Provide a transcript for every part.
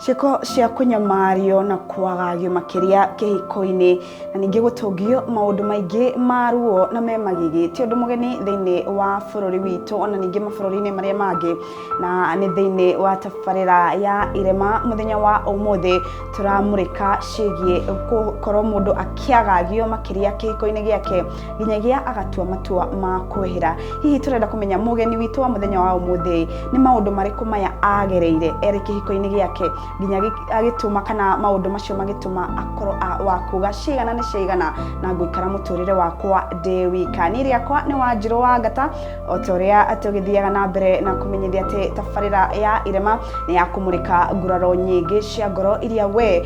ciĩko cia kũnyamario na kwagagio makĩria kĩhiko-inĩ na ningĩ gũtũngio maũndũ maingĩ ma ruo na me magigi ti ũndũ mũgeni thĩinĩ wa bũrũri witũ ona ningĩ mabũrũri-inĩ marĩa mangĩ na nĩ thĩinĩ wa tabarĩra ya irema mũthenya wa ũmũthĩ tũramũrĩka ciĩgiĩ gũkorwo mũndũ akĩagagio makĩria kĩhiko-inĩ gĩake nginyagia agatua matua ma kwehera hihi turenda kumenya mugeni witå wa muthenya wa umuthi ni maundu mariku maya agereire eri kihiko-ini giake nginya gi- agituma kana maundu macio magituma akorwo a- wa kuga cigana ni cigana na nguikara muturire wakwa ndi wika ni riakwa ni wanjirå wa ngata o ta uria tugithiaga na mbere na kumenyithia ati tabarira ya irema ni ya kumurika nguraro nyingi cia ngoro iria we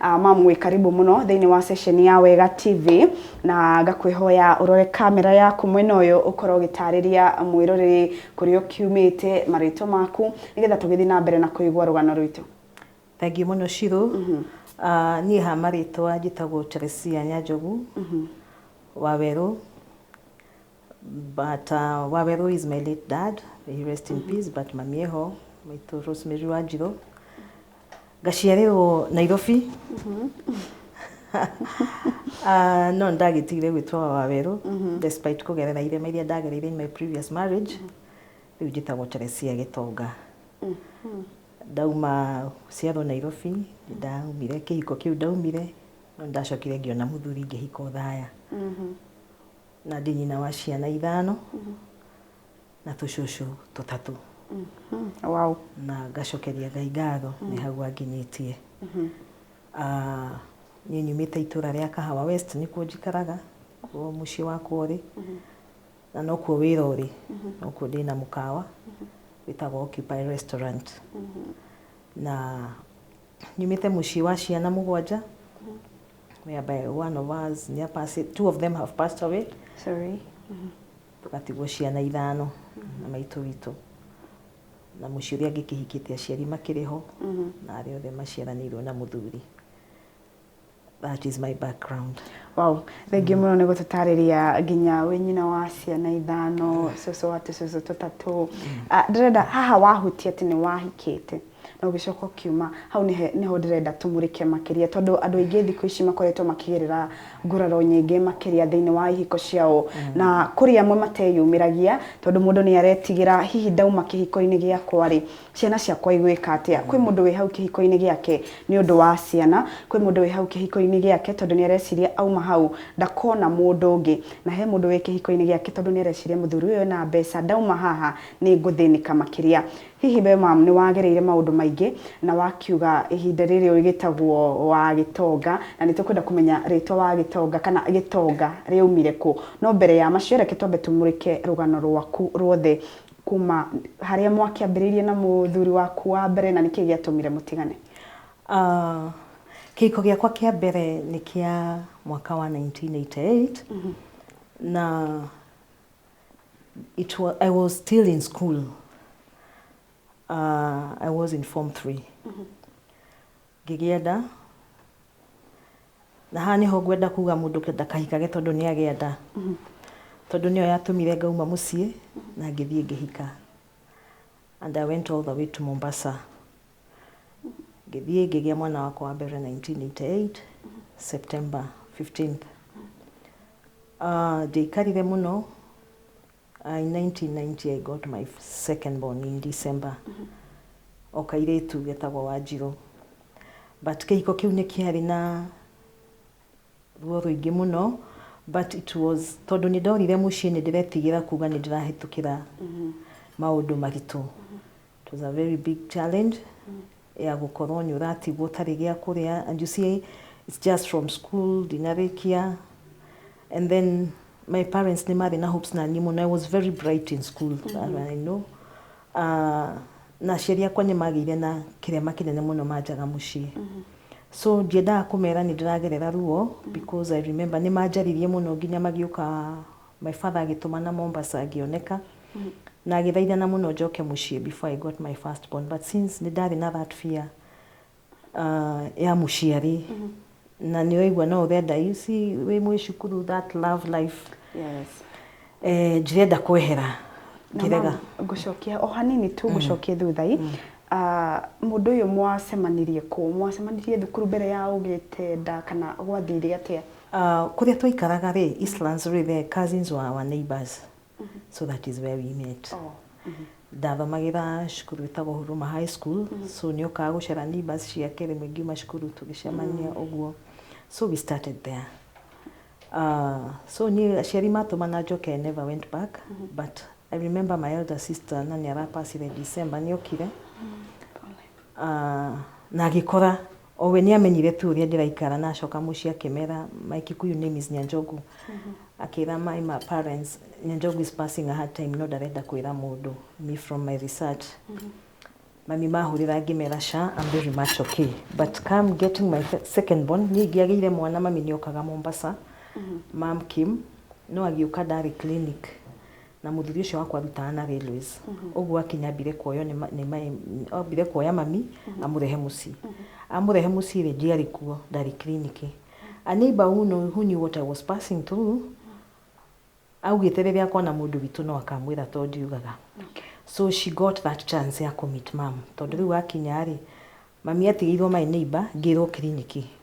Uh, mam wĩ karibu mũno thĩinĩ wa sesheni ya wega tv na ngakwĩhoya ũrore kamera yaku mwena ũyũ ũkorwo ũgĩtarĩria mwĩroreri kũrĩa ũkiumĩte marĩtwa maku nĩgetha tũgĩthiĩ na mbere na kũigua rũgano rwitũ thengiũ mũno cirũ Ah, niĩ ha marĩtwa njĩtagwo Teresia Nyanjogu wa werũ But uh, Waweru is my late dad. He rest in peace. But mami eho, maitũ Rosemary Wanjirũ. Ngaciarĩrwo Nairobi. Ah, no ndagĩtigire gwĩtwo Waweru despite kũgerera irema iria ndagereire in my previous marriage. Rĩu njĩtagwo Teresia Gĩtonga. Ndauma ciarwo Nairobi, ndaumire kĩhiko kĩu ndaumire, no ndacokire ngĩona mũthuri ngĩhika ũthaya. Na ndĩ nyina wa ciana ithano na tũcũcũ tũtatũ. Wow. Na ngacokeria Ngai ngatho nĩ hau anginyĩtie. Ah, Niĩ nyumĩte itũra rĩa Kahawa West nĩkuo njikaraga, kuo mũciĩ wakwa ũrĩ. Na nokuo wĩra ũrĩ. Nokuo ndĩna mũkawa wĩtagwo Occupy Restaurant. Na nyumĩte mũciĩ wa ciana mũgwanja. whereby one of us nĩ apassi- two of them have passed away Sorry. tũgatigwo ciana ithano na maitũ witũ na mũciĩ ũrĩa angĩ kĩhikĩte aciari makĩrĩ ho na arĩa othe maciaranĩirwo na mũthuri that is my background Wow, thengiũ mũno nĩ gũtũtarĩria nginya wĩ nyina wa ciana ithano, cũcũ wa tũcũcũ tũtatũ. Ah, Ndĩrenda haha wahutia atĩ nĩ wahikĩte. na ũgĩcoka ũkiuma. Hau nĩho ndĩrenda tũmũrĩke makĩria tondũ andũ aingĩ thikũ ici makoretwo makĩgerera nguraro nyingĩ makĩria thĩinĩ wa ihiko ciao na kũrĩ amwe mateyumĩragia tondũ mũndũ nĩ aretigĩra hihi ndauma kĩhiko-inĩ gĩakwa-rĩ, ciana ciakwa igwĩka atĩa. Kwĩ mũndũ wĩ hau kĩhiko-inĩ gĩake nĩ ũndũ wa ciana, kwĩ mũndũ wĩ hau kĩhiko-inĩ gĩake tondũ nĩ areciria auma hau ndakona mũndũ ũngĩ, na he mũndũ wĩ kĩhiko-inĩ gĩake tondũ nĩ areciria mũthuri ũyũ ena mbeca ndauma haha nĩ ngũthĩnĩka makĩria. Hihi wee ma'am nĩ wagereire maũndũ maingĩ na wakiuga ihinda rĩrĩ ũrĩ gĩtagwo wa Gĩtonga na nĩ tũkwenda kũmenya rĩtwa wa Gĩtonga kana Gĩtonga rĩaumire kũ? No mbere ya macio reke twambe tũmũrĩke rũgano rwaku rwothe kuma harĩa mwakĩambĩrĩirie na mũthuri waku wa mbere na nĩkĩĩ gĩatũmire mũtigane? Kĩhiko gĩakwa kĩa mbere nĩ kĩa mwaka wa 1988 na it was, I was still in school. Uh, I was in form three. Ngĩgĩenda na haha nĩho ngwenda kuga mũndũ ndakahikage tondũ nĩ agĩenda tondũ nĩyo yatũmire ngauma mũciĩ na ngĩthiĩ ngĩhika and I went all the way to Mombasa ngĩthiĩ ngĩgĩa mwana wakwa wa mbere 1988 September 15th Ah, ndiaikarire mũno Ah, in 1990 I got my second born in December o kairĩtu getagwo Wanjirũ but kĩhiko kĩu nĩ kĩarĩ na Ruo rũingĩ mũno but it was tondũ nĩ ndorire mũciĩ nĩ ndĩretigĩra kuga nĩ ndĩrahĩtũkĩra maũndũ maritũ. It was a very big challenge ya gũkorwo nĩ ũratigwo ũtarĩ gĩa kũrĩa and you see it's just from school ndinarĩkia and then my parents nĩ marĩ na hopes na niĩ mũno I was very bright in school I know A, na aciari akwa nĩ maagĩire na kĩrema kĩnene mũno manjaga mũciĩ. So ndiendaga kũmera nĩ ndĩragerera ruo because I remember nĩ manjaririe mũno nginya magĩũka my father agĩtũmana Mombasa ngĩoneka na agĩthaithana mũno njoke mũciĩ before I got my first born. But since nĩ ndarĩ na that fear, ah, ya mũciari na nĩ waigua no ũrenda you see wĩ mwĩ cukuru that love life yes eh, njirenda kwehera Na ngĩrega ma'am, ngũcokia o hanini tu ngũcokie thutha i Ah, mũndũ ũyũ mwacemanirie kũ mwacemanirie thukuru mbere ya ũgĩte nda kana gwathire atĩa Ah, kũrĩa twaikaraga rĩ Eastlands rĩ the cousins wa our neighbors so that is where we met Oh. ndathomagĩra cukuru ĩtagwo huruma high school so nĩ okaga gũcera neighbors ciake rĩmwe ngiuma cukuru tũgĩcemania ũguo so we started there Uh, so niä aciari matåmana njoke I never went back but i remember my elder sister na nä arapacire december nä okire uh, na agä kora O we nĩamenyire tu ũrĩa ndĩraikara na acoka mũciĩ akĩmera my Kikuyu name is Nyanjogu akĩra my ma parents Nyanjogu is passing a hard time no ndarenda kwĩra mũndũ me from my research mami mahũrĩra ngĩmera sha I'm very much okay but come getting my fe- second born niĩ ingĩagĩire mwana mami nĩokaga Mombasa mam Kim no agĩũka ndarĩ clinic Na mũthuri ũcio wakwa arutaga na railways. Ũguo akinya ambire kuoywo nĩ ma- nĩ maĩ, ambire kuoya mami amũrehe mũciĩ. Amũrehe mũciĩ rĩ, ndiarĩ kuo, ndarĩ clinic. A neighbor who know, who knew what I was passing through, augĩte rĩrĩa akona mũndũ witũ no akamwĩra to ndiugaga. So she got that chance ya kũ meet mum. Tondũ rĩu akinya rĩ, mami atigĩirwo my neighbor, ngĩrwo clinic.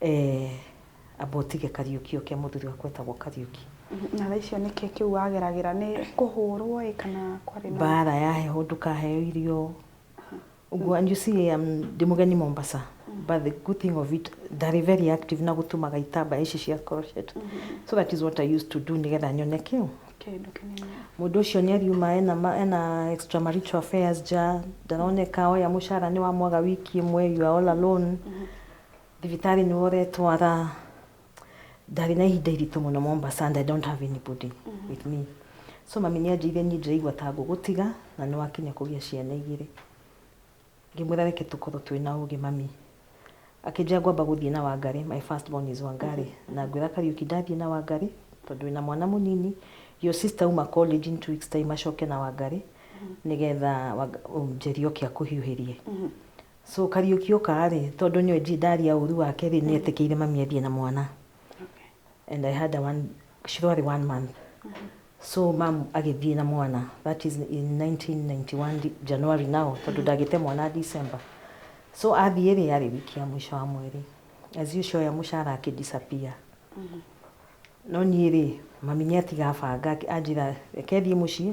Eeh amba ũtige Kariũki oke mũthuri wakwa etagwo Kariũki. Na thaa icio nĩkĩ kĩu wageragĩra nĩ kũhũrwo ĩ kana kwarĩ na. Mbara ya heho ndũkaheo irio ũguo and you see um, ndĩ mũgeni Mombasa but the good thing of it ndarĩ very active na gũtumaga itambaya ici cia crochet so that is what I used to do nĩgetha nyone kĩũ Kĩndũ kĩnini. mũndũ ũcio nĩ ariuma ena, ma- ena extramarital affairs nja ndaroneka oya mũcara nĩ wa mwaga wiki ĩmwe you are all alone Thibitarĩ nĩ ũretwara ndarĩ na ihinda iritũ mũno Mombasa and I don't have anybody with me so mami nĩ anjĩire niĩ ndĩraigua ta ngũgũtiga na nĩ wakinya kũgĩa ciana igĩrĩ ngĩmwĩra reke tũkorwo twĩ na ũgĩ mami akĩnjĩra ngwamba gũthiĩ na Wangari my first born is Wangari na ngwĩra Kariuki ndathiĩ na Wangari tondũ wĩna mwana mũnini your sister uma college in two weeks time acoke na Wangari nĩgetha Wang- um, Njeri oke akũhiũhĩrie So Kariuki ũkaa rĩ tondũ nĩwe G ndaria ũru wake rĩ nĩetĩkĩire mami athiĩ na mwana and I had a one Shiro arĩ one month so mam agĩthiĩ na mwana that is in 1991 di- January now tondũ ndagĩte mwana December so athiĩ rĩ yarĩ wiki ya mũico wa mweri as usual ya mũcara akĩ disappear no niĩ rĩ mami nĩatiga banga akĩ- anjĩra reke thiĩ mũciĩ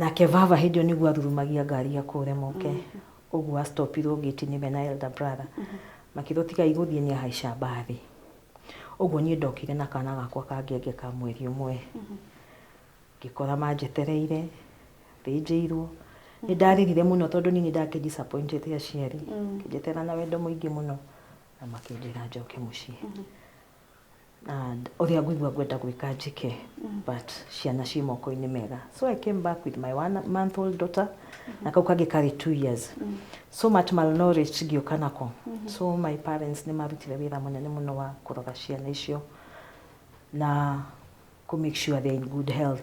Nake vava hĩndĩ ĩyo nĩguo athurumagia ngari ya kũũre moke mm. ũguo astopirwo ngĩti-inĩ me na elder brother mm -hmm. makĩrwo tiga igũthiĩ nĩ ahaica mbathi ũguo niĩ ndokire na kana gakwa ka ngenge ka mweri ũmwe mm -hmm. ngĩkora manjetereire thĩnjĩirwo nĩ mhm. ndaririre mũno tondũ niĩ nĩ ndakĩ disappointed aciari mm. ngĩnjetera na wendo mũingĩ mũno na makĩnjĩra njoke mũciĩ mm -hmm. and ũrĩa ngũigua ngwenda gwĩka njĩke but ciana ciĩ moko-inĩ mega so i came back with my one month old daughter na kau kangĩ karĩ two years so much malnourished ngĩũka nako so my parents nĩ marutire wĩra mũnene mũno wa kũrora ciana icio na kũ make sure they are in good health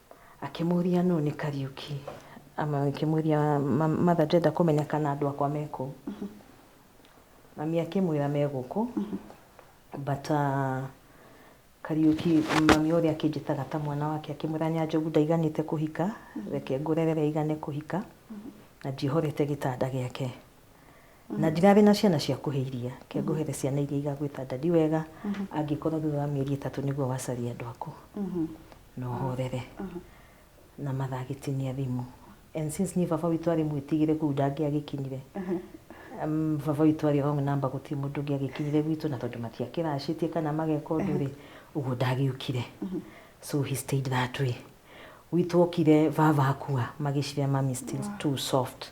Akĩmũria nũ nĩ Kariuki. Ama akĩmũria matha ndĩrenda kũmenya kana andũ akwa me kũu. Mami akĩmwĩra me gũkũ. But uh, Kariuki mami ũrĩa akĩnjĩtaga ta mwana wake akĩmwĩra Nyanjogu ndaiganĩte kũhika reke ngũrerere aigane kũhika na ndiĩhorete gĩtanda gĩake. na ndirarĩ na ciana cia kũhe iria ke ngũhere ciana iria igagwĩta ndadi wega angĩkorwo thutha wa mĩeri ĩtatũ nĩguo wacaria andũ aku na ũhorere na mathaa agĩtinia thimũ and since niĩ baba witũ arĩ mwĩtigĩre kũu ndangĩagĩkinyire Um, baba witũ arĩ wrong number gũtirĩ mũndũ ũngĩ agĩkinyire gwitũ na tondũ matiakĩracĩtie kana mageka ũndũ rĩ ũguo ndagĩũkire so he stayed that way gwitũ okire baba akua magĩcirĩa mami still too soft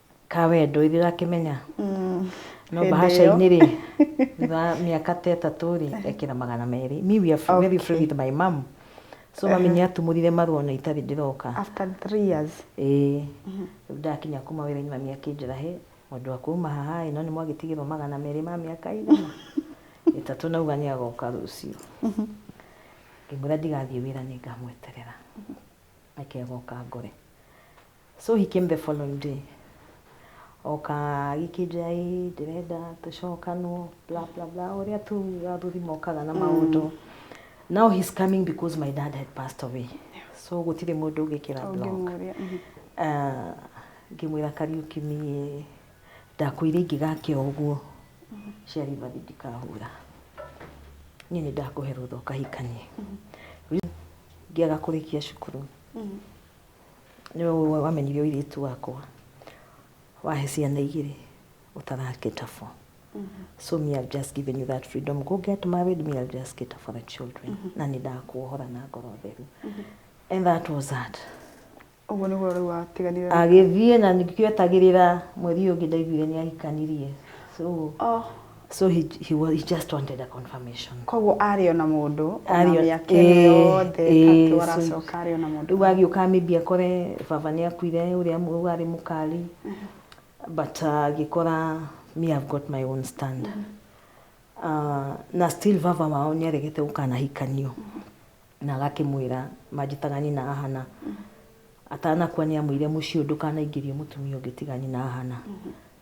ka wendo ithuĩ ũrakĩmenya Mm. no Hĩndĩ bahasha-inĩ rĩ thutha wa mĩaka ta ĩtatũ rĩ ekĩra magana merĩ me we are fr- very free Okay. with my mom so mami nĩ atumũrire marũa ona itarĩ ndĩroka after three years ĩĩ rĩu ndakinya kuma wĩra-inĩ mami akĩnjĩra he mũndũ wa kuma haha ĩ no nĩ mwagĩtigĩrwo magana merĩ ma mĩaka igana ĩtatũ nauga nĩ agoka rũciũ ngĩmwĩra ndigathiĩ wĩra nĩ ngamweterera reke agoka ngore So he came the following day oka agĩkĩnjoya ĩ ndĩrenda tũcokanwo bla bla bla ũrĩa tu athuthi mokaga na maũndũ now he's coming because my dad had passed away so gũtirĩ mũndũ ũngĩkĩra block Ũngĩmũria, mhm. Ah, ngĩmwĩra kariũki niĩ ndakwĩire ingĩgakĩa ũguo ciari bathi ndikahũra niĩ nĩ ndakũhe rũtha ũkahikanie ngĩaga kũrĩkia cukuru nĩ we wamenyire ũirĩtu wakwa wahe ciana igĩrĩ ũtarakĩta for so me I've just given you that freedom go get married me I'll just cater for the children na nĩ ndakuohora na ngoro theru and that was that ũguo nĩguo rĩu watiganire na- agĩthiĩ na nĩkĩo etagĩrĩra mweri ũyũ ũngĩ ndaiguire nĩ ahikanirie so oh so he, he, wa- he just wanted a confirmation koguo arĩ ona mũndũ ona Arĩ o- mĩaka ĩno ĩĩ, yothe ĩĩ, tatũ so- aracoka arĩ ona mũndũ rĩu agĩũka maybe akore baba nĩ akuire ũrĩa mu- warĩ mũkari but uh, agĩkora me have got my own stand uh, na still baba wao nĩ aregete gũkanahikanio na agakĩmwĩra manjĩtaga nyina ahana Atanakua nĩamwĩire mũciũ ndũkanaingĩrie mũtumia ũngĩ tiga nyina Ahana,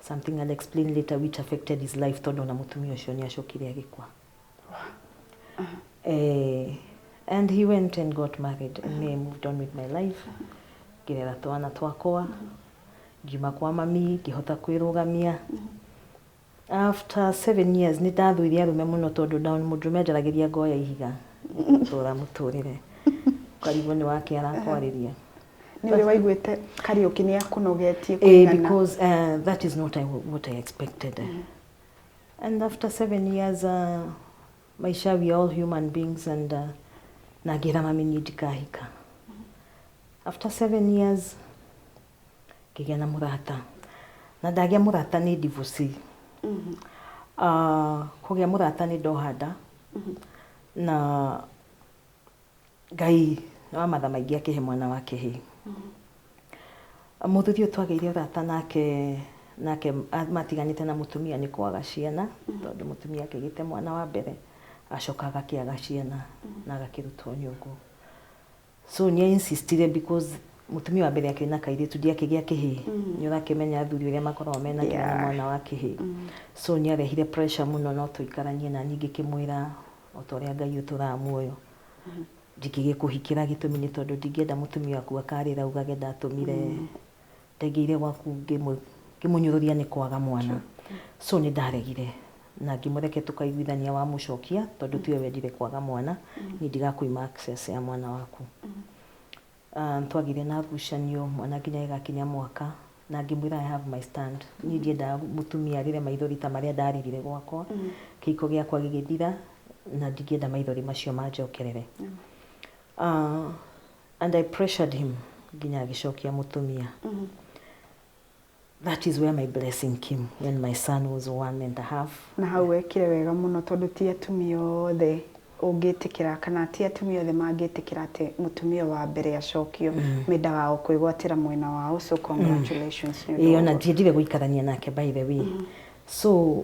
something I'll explain later which affected his life tondũ ona mũtumia ũcio nĩacokire agĩkua. Eh, and he went and got married and me I moved on with my life ngĩrera twana twakwa ngiuma kwa mami ngĩhota kwĩrũgamia. After seven years nĩ ndathũire arũme mũno tondũ nda mũndũrũme anjaragĩria ngoya ihiga tũra mũtũrĩre ũkarigwo nĩ wake arakwarĩria nĩwe waiguĩte Kariũki nĩ akũnogetie eh, because uh, that is not I, what I expected mm -hmm. and after seven years uh, maisha we are all human beings and uh, na ngĩra mami niĩ ndikahika mm -hmm. after seven years Ngĩgĩa na mũrata. Na ndagĩa mũrata nĩ divorcee. Ah, kũgĩa mũrata nĩ ndoha nda. Na Ngai nĩ wa matha maingĩ akĩhe mwana wa kĩhĩĩ. Mũthuri ũyũ twagĩire ũrata nake nake a- matiganĩte na mũtumia nĩ kwaga ciana, tondũ mũtumia akĩgĩte mwana wa mbere, acoka agakĩaga ciana na agakĩrutwo nyũngũ. So nĩ a insistire because mutumia wa mbere akĩrĩ na kairĩtu ndiakĩgĩa kĩhĩĩ mm. nĩ ũrakĩmenya athuri ũrĩa makoragwo mena yeah. kĩna mwana wa kĩhĩĩ mm. so nĩ arehire pressure muno no tũikaranie na ningĩ kĩmwĩra o ta ũrĩa ngai ũtũraga muoyo mm. ndingĩgĩkũhikĩra gĩtũmi nĩ tondũ ndingĩenda mutumia waku akarĩra ugage ndatũmire mm. ndaingĩire gwaku ngĩmũ- ngĩmũnyũrũria nĩ kwaga mwana so nĩ ndaregire na ngĩmũreke tũkaiguithania wamũcokia tondũ tiwe wendire kwaga mwana niĩ ndigakwĩma access ya mwana waku Ah, nĩ twagĩire na ngucanio mwana nginya gĩgakinya mwaka na ngĩmwĩra I have my stand niĩ ndiendaga mũtumia arĩre maithori ta marĩa ndaririre gwakwa kĩhiko gĩakwa gĩgĩthira na ndingĩenda maithori macio manjokerere Ah, And I pressured him nginya agĩcokia mũtumia. That is where my blessing came when my son was one and a half. Na hau wekire wega mũno tondũ ti atumia othe ũngĩtĩkĩra kana ti atumia othe mangĩtĩkĩra atĩ mũtumia wa mbere acokio mm. mendaga o kwĩgwatĩra mwena wao so congratulations mm. nĩ ũndũ ona ndiendire gũikarania nake by the way mm. so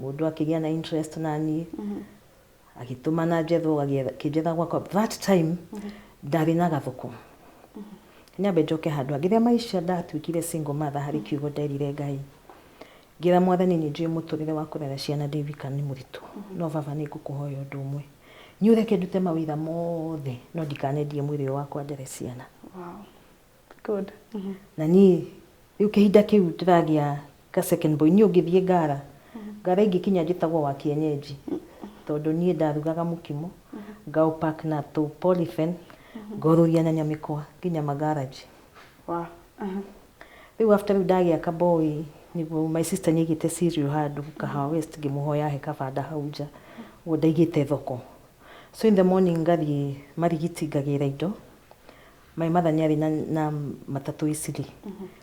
Mũndũ akĩgĩa na interest na niĩ agĩtũmana njethwo akĩnjetha gwakwa that time ndarĩ na gathoko nyambe njoke handũ ha rĩrĩa maisha ndatuĩkire single mother harĩ kiugo nderire ngai ngĩra mwathani nĩ njũĩ mũtũrĩre wa kũrera ciana ndĩ wika nĩ mũritũ no baba nĩ ngũkũhoya ũndũ ũmwe nyũreke ndute mawĩra mothe no ndikanendie mwĩrĩ ũyũ wakwa ndere ciana Good. na niĩ rĩu kĩhinda kĩu ndĩragĩa ka second boy niĩ ũngĩthiĩ ngara ngara ingĩkinya njĩtagwo wa kienyenji tondũ niĩ ndarugaga mũkimo ngaũpack na tũ polythene ngorũria nyanya mĩkwa nginya ma garage Wa. Aha. rĩu after rĩu ndagĩa ka boy nĩguo my sister nĩaigĩte cereal handũ kahawa west ngĩmũhoya ahe kabanda hau nja ũguo ndaigĩte thoko so in the morning ngathiĩ marigiti ngagĩra indo My mother nĩ arĩ na, na matatũ Isili.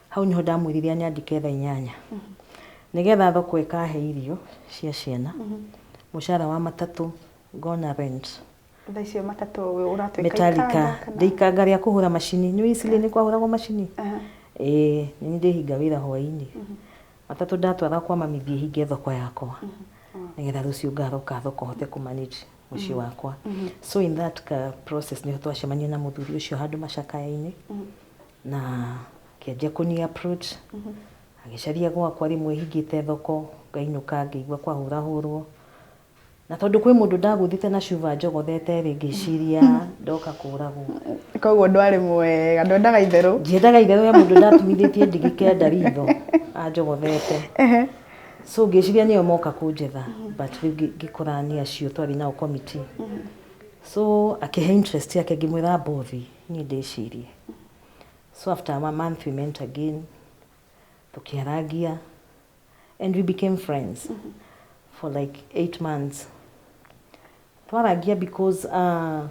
Hau nĩho ndamwĩrire anyandĩke thaa inyanya nĩgetha thoko ĩkahe irio cia ciana, mũcara wa matatũ ngona rent. Thaa icio matatũ ũratwĩka Metallica, ikanga kana? ndĩ ikanga rĩa kũhũra macini. Nĩũĩ Isili nĩ kwahũragwo macini? Aha. Ĩĩ, nĩ niĩ ndĩhinga wĩra hwaĩ-inĩ. Matatũ ndatwara kwa mami thiĩ hinge thoko yakwa nĩgetha rũciũ ngaroka thoko hote kũ manage. mũciĩ wakwa so in that ka process nĩho twacemania na mũthuri ũcio handũ macakaya-inĩ na akĩanjia kũni approach agĩcaria gwakwa rĩmwe hingĩte thoko ngainũka ngĩigua kwahũrahũrwo na tondũ kwĩ mũndũ ndagũthĩte na cuba njogothete rĩ ngĩciria ndoka kũragwo koguo ndwarĩ mwega ndwendaga itherũ ndiendaga itherũ ya mũndũ ndatumithĩtie ndigi kenda ritho anjogothete so ngĩciria nĩo moka kũnjetha but rĩu ngĩ- ngĩkora nĩ acio twarĩ nao committee so akĩhe interest yake ngĩmwĩra mbothi niĩ ndĩcirie so after a month we met again tũkĩarangia and we became friends for like eight months Twarangia because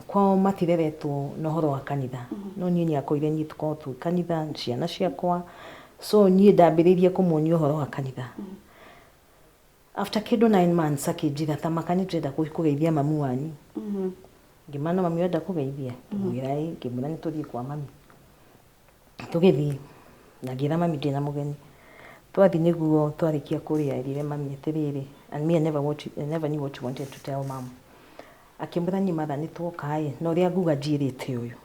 kwao matireretwo na ũhoro wa kanitha. No niĩ nĩakũire niĩ tũkoragwo twĩ kanitha, ciana ciakwa. So niĩ ndambĩrĩirie kũmuonia ũhoro wa kanitha. After kĩndũ nine months akĩnjĩra ta maka nĩtũrenda gũthiĩ kũgeithia mamu wanyu. Ngĩmana mamu ũrenda kũgeithia? Ngĩmwĩra ĩĩ. Ngĩmwĩra nĩtũthiĩ kwa mami. Tũgĩthiĩ na ngĩra mami ndĩna mũgeni, twathiĩ nĩguo twarĩkia kũrĩa erire mami atĩrĩrĩ, and me I never watch I never knew what she wanted to tell mum. Akĩmwĩra niĩ mother nĩtwoka-ĩ, na ũrĩa nguga njiyĩrĩte ũyũ,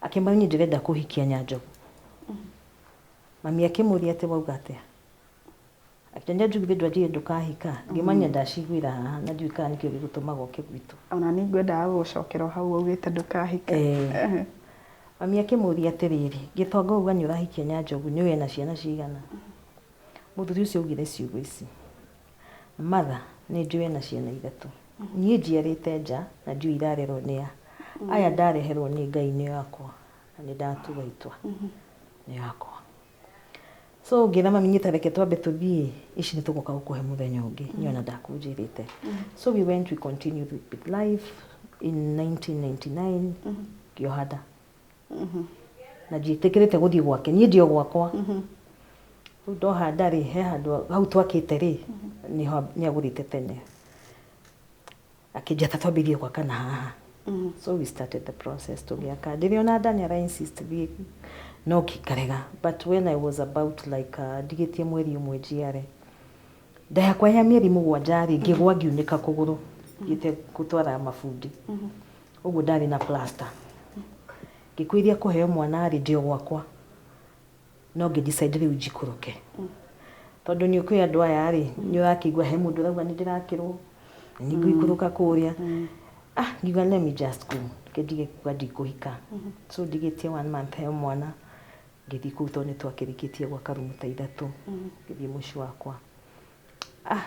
akĩmwĩra niĩ ndĩrenda kũhikia Nyanjogu. Mami akĩmũria atĩ wauga atĩa? Akĩnjũria njugithie ndũrĩa njuge ndũkahika, ngĩmũria ndaciguĩra haha na ndiũĩ kana nĩkĩo gĩgũtũmaga oke gwitũ. O na niĩ ngwendaga gũgũcokera o hau waugĩte ndũkahika. Ee. Mami akĩmũria atĩrĩrĩ, Gĩtonga wauga nĩ ũrahikia Nyanjogu nĩũĩ ena ciana cigana? Mũthuri ũcio augire ciugo ici, Mother, nĩ njũĩ ena ciana ithatũ. Niĩ njiarĩte nja na ndiũĩ irarerwo nĩ a. Aya ndareherwo nĩ Ngai nĩo akwa na nĩ ndatua itua nĩo akwa. So ngĩra mami nyita reke twambe tũthiĩ ici nĩ tũgoka gũkũhe mũthenya ũngĩ nĩ ona ndakũnjĩrĩte so we went we continued with, with life in 1999 ngĩoha nda na ndiĩtĩkĩrĩte gũthiĩ gwake niĩ ndio gwakwa rĩu ndoha nda rĩ he handũ hau twakĩte rĩ nĩ agũrĩte tene akĩnjata twambĩrĩrie gwaka na haha mm. so we started the process tũgĩaka ndĩrĩ ona dani ara insist thiĩ no ngikarega but when i was about like uh, ndigĩtie mweri ũmwe njiare nda yakwa ya mĩeri mũgwanja rĩ ngĩgwa ngiunĩka kũgũrũ ngĩte gũtwara mabundi mm-hmm. ũguo ndarĩ na plaster ngĩkwĩria kũheo mwana rĩ ndĩ o gwakwa no ngĩ decide rĩu njikũrũke tondũ nĩ ũkĩũĩ andũ aya rĩ nĩ ũrakĩigua he mũndũ ũrauga nĩ ndĩrakĩrwo nĩ ngũikũrũka kũrĩa ah ngiuga let me just go reke ndige kuga ndikũhika so ndigĩtie one month heo mwana ngĩthiĩ kũu tondũ nĩ twakĩrĩkĩtie gwaka rumu ta ithatũ ngĩthiĩ mũciĩ wakwa ah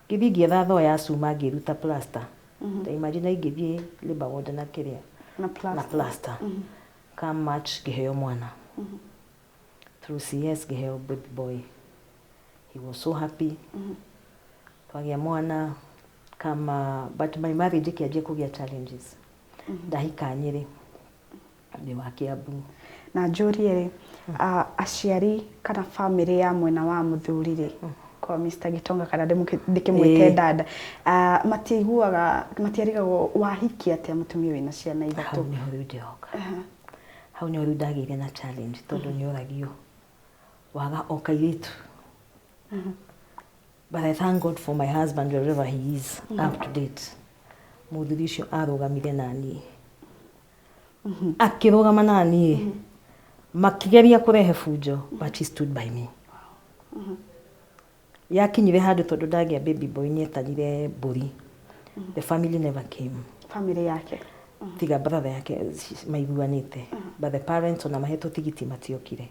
ngĩthiĩ ngĩetha thoo ya cuma ngĩruta plaster ta imagine ingĩthiĩ labour ward na kĩrĩa na plaster Come March ngĩheo mwana through CS ngĩheo baby boy he was so happy twagĩa mwana kama but my marriage ĩkĩanjia kũgĩa challenges ndahika nyĩrĩ ndĩ wa kĩambu na njũrie rĩ ah, aciari kana bamĩrĩ ya mwena wa mũthuri rĩ kwa Mr. Gitonga kana ndĩmũke- ndĩkĩmwĩte Ĩĩ. dada Ah, matiaiguaga matiarigagwo wahikia atĩa mũtumia wĩna ciana hau ithatũ nĩho rĩu ndĩroka hau nĩho rĩu ndagĩire na challenge tondũ nĩ ũragio waga o kairĩtu but i thank god for my husband wherever he is up to date mũthuri ũcio arũgamire naniĩ akĩrũgama naniĩ makĩgeria kũrehe bunjo but she stood by me Yakinyire handũ tondũ ndagĩa baby boy nĩ etanire mbũri. The family never came. Family yake. Tiga brother yake maiguanĩte. But the parents ona mahetwo tigiti matiokire.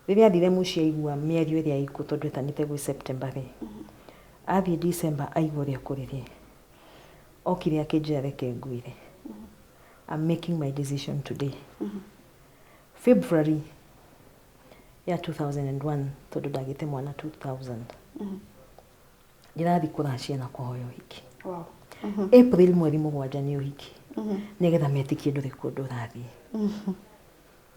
Rĩrĩa athire mũciĩ aigua mĩario ĩrĩa ĩkuo tondũ etanĩte gwĩ September rĩ. Athiĩ December aigua ũrĩa kũrĩ rĩ. Okire akĩnjĩra reke ngwĩre. I'm making my decision today. February ya 2001 tondå ndagä mwana 2000 ndĩrathiĩ kũracia na kũhoya ũhiki Wow. april mweri mũgwanja nĩ ũhiki nĩgetha metĩkie ndũrĩ kũndũ ũrathiĩ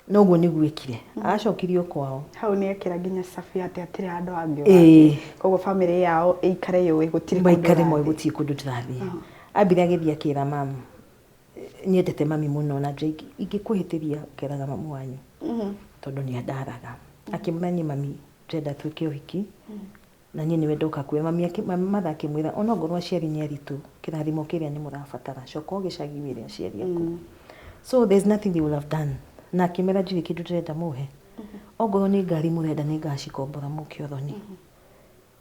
noguo nĩguo ekire acokirio kwao hau nä ekera nginya cabi atä atirä handå hangä Ĩĩ. koguo bamĩrĩ yao ĩikare yå ä gå tirä maikare moä gå tiä kå ndå ndärathiä ambire agä thiä akä ra mamu nyendete mami mũno na nja ingĩ- ingĩkũhĩtĩria ngeraga mamu wanyu tondũ nĩ andaraga akĩmwĩra niĩ mami ndĩrenda twĩke ũhiki na niĩ nĩwe ndoka kuoya mami akĩ- ma- matha akĩmwĩra onakorwo aciari nĩ aritũ kĩrathimo kĩrĩa nĩ mũrabatara coka o gĩcagi wĩre aciari aku so there's nothing they will have done na akĩmera ndirĩ kĩndũ ndĩrenda mũhe ongorwo nĩ ngari mũrenda nĩ ngacikombora mũke ũthoni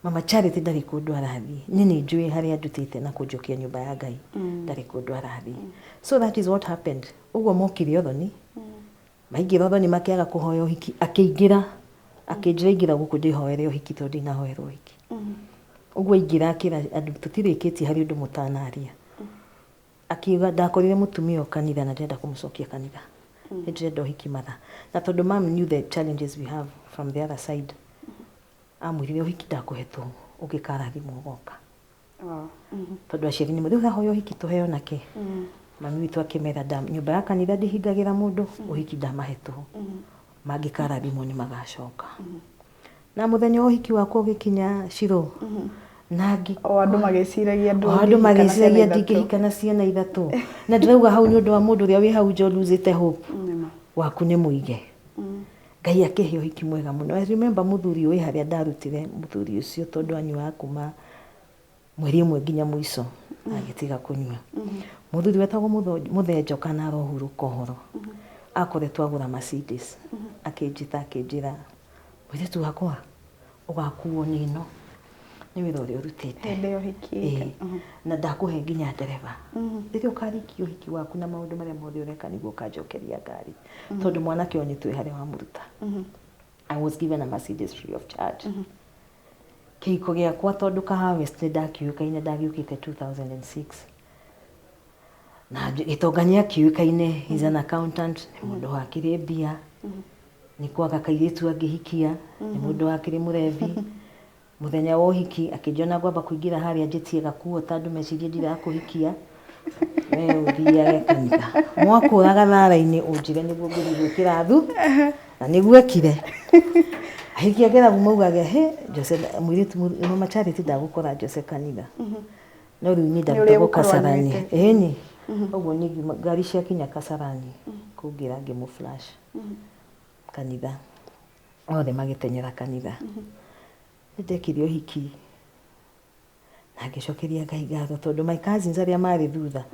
Mama Charity ndarĩ kũndũ arathiĩ. Niĩ nĩ njũĩ harĩa andutĩte na kũnjokia nyũmba ya Ngai. Ndarĩ kũndũ arathiĩ. So that is what happened. Ũguo mokire ũthoni, maingĩra ũthoni makĩaga kũhoya ũhiki, akĩingĩra, akĩnjĩra ingĩra gũkũ ndĩhoere ũhiki tondũ ndinahoerwo ũhiki. Ũguo aingĩra akĩra andũ tũtirĩkĩtie harĩ ũndũ mũtanaria. Akiuga ndakorire mũtumia o kanitha na ndĩrenda kũmũcokia kanitha. Nĩ ndĩrenda ũhiki matha. Na tondũ mom knew the challenges we have from the other side, amwĩrire ũhiki ndakũhetwo ũngĩkarathimwo ũgoka tondũ aciari nĩmo rĩu haha ũyũ ũhiki tũheo nake mami witũ akĩmera "Nda- nyũmba ya kanitha ndĩhingagĩra mũndũ ũhiki ndamahetwo mangĩkarathimwo nĩ magacoka na mũthenya wa ũhiki wakwa ũgĩkinya ciro na ngĩ o andũ magĩciragia o andũ magĩciragia ndingĩhika na ciana ithatũ na ndĩrauga hau nĩ ũndũ wa mũndũ ũrĩa wĩ hau nja ũruzĩte hope waku nĩ mũige Ngai akĩhe ũhiki mwega mũno. I remember mũthuri ũyũ harĩa ndarutire mũthuri ũcio tondũ anyuaga kuma mweri ũmwe nginya mũico agĩtiga kũnyua. Mũthuri wetagwo Mũtho- Mũthee Njoka na arohurũka ũhoro. Akoretwo agũra Mercedes. Akĩnjĩta akĩnjĩra, mũirĩtu wakwa, ũgakuo nĩ ĩno nĩ wĩra ũrĩa ũrutĩte hĩndĩ ĩyo hikĩte Ĩĩ. na ndakũhe nginya ndereba rĩrĩa ũkarĩkia ũhiki waku na maũndũ marĩa mothe ũreka nĩguo ũkanjokeria ngari tondũ mwanake ũyũ nĩ twĩ harĩa wamũruta I was given a Mercedes free of charge kĩhiko gĩakwa tondũ kahawa west nĩ ndakiũĩkaine ndagĩũkĩte 2006 na gĩtonga nĩ akiũĩkaine he's an accountant nĩ mũndũ wakĩrĩ mbia Nĩ kwaga kairĩtu angĩhikia, nĩ mũndũ wakĩrĩ mũrebi. Mũthenya wa ũhiki akĩnjona ngwamba kũingĩra harĩa njĩtie gakuo ta andũ mecirie ndirakũhikia, we ũthiage kanitha. Mwakũra gathara-inĩ ũnjĩre nĩguo ngũthiĩ gwĩkĩra thu, na nĩguo ekire. Ahiki ageragu maugage hĩ, Jose mũirĩtu Mama Charity ndagũkora Jose kanitha. No rĩu niĩ ndarutagwo ũrĩgũkorwo Kasarani. anyuĩte. Ĩĩni. Ũguo niĩ ngiuma ngari ciakinya Kasarani kũngĩra ngĩmũ flash. kanitha othe magĩteng'era kanitha nĩndekire ũhiki na ngĩcokeria ngai ngatho tondũ my cousins arĩa marĩ thutha